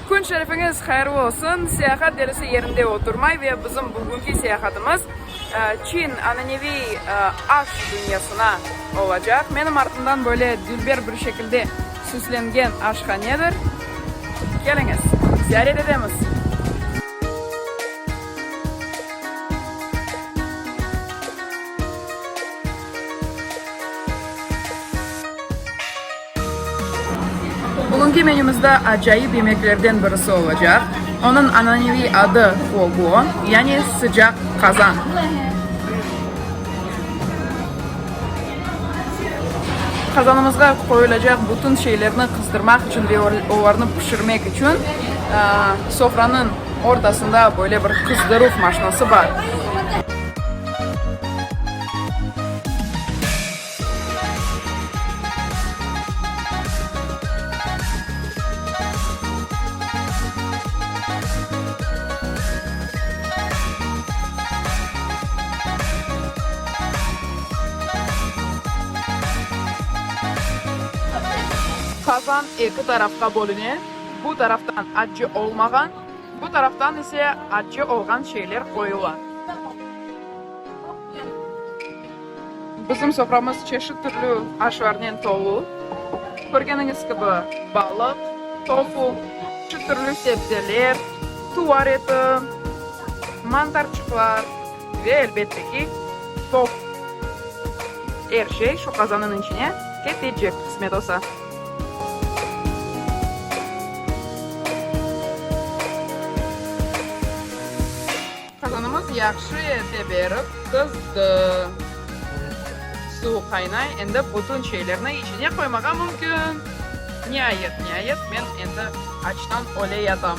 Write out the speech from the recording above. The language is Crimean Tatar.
Kün şerifiñiz hayırlı olsun! Seyahat derisi yerinde oturmay ve bizim bugünki seyahatımız Çin ananeviy aş dünyasına olacaq. Menim artımdan böyle dülber bir şekilde süslengen aşhanedir. Keliñiz, ziyaret etemiz! Bugünki menümizde acayip yemeklerden birisi olacaq, onıñ ananeviy adı fogo, yani sıcaq qazan. Qazanımızğa qoyulacaq bütün şeylerni qızdırmaq içün ve olarnı pişirmek içün sofranıñ ortasında böyle bir qızdıruv maşnası bar. Qazan eki tarafqa bölüne, bu taraftan accı olmağan, bu taraftan ise accı olğan şeyler qoyula. Bizim soframız çeşit türlü aşlarnen tolu. Körgeniñiz kibi, balıq, tofu, çeşit türlü sebzeler, tuvar eti, mantarçıqlar ve, elbette ki, top. Er şey şu qazanıñ içine ketecek, qısmet olsa. Qazanımız yahşı ete berip qızdı. Suv qaynay, endi bütün şeylerni içine qoymağa mümkün. Niayet, niayet, men endi açtan öle yatam.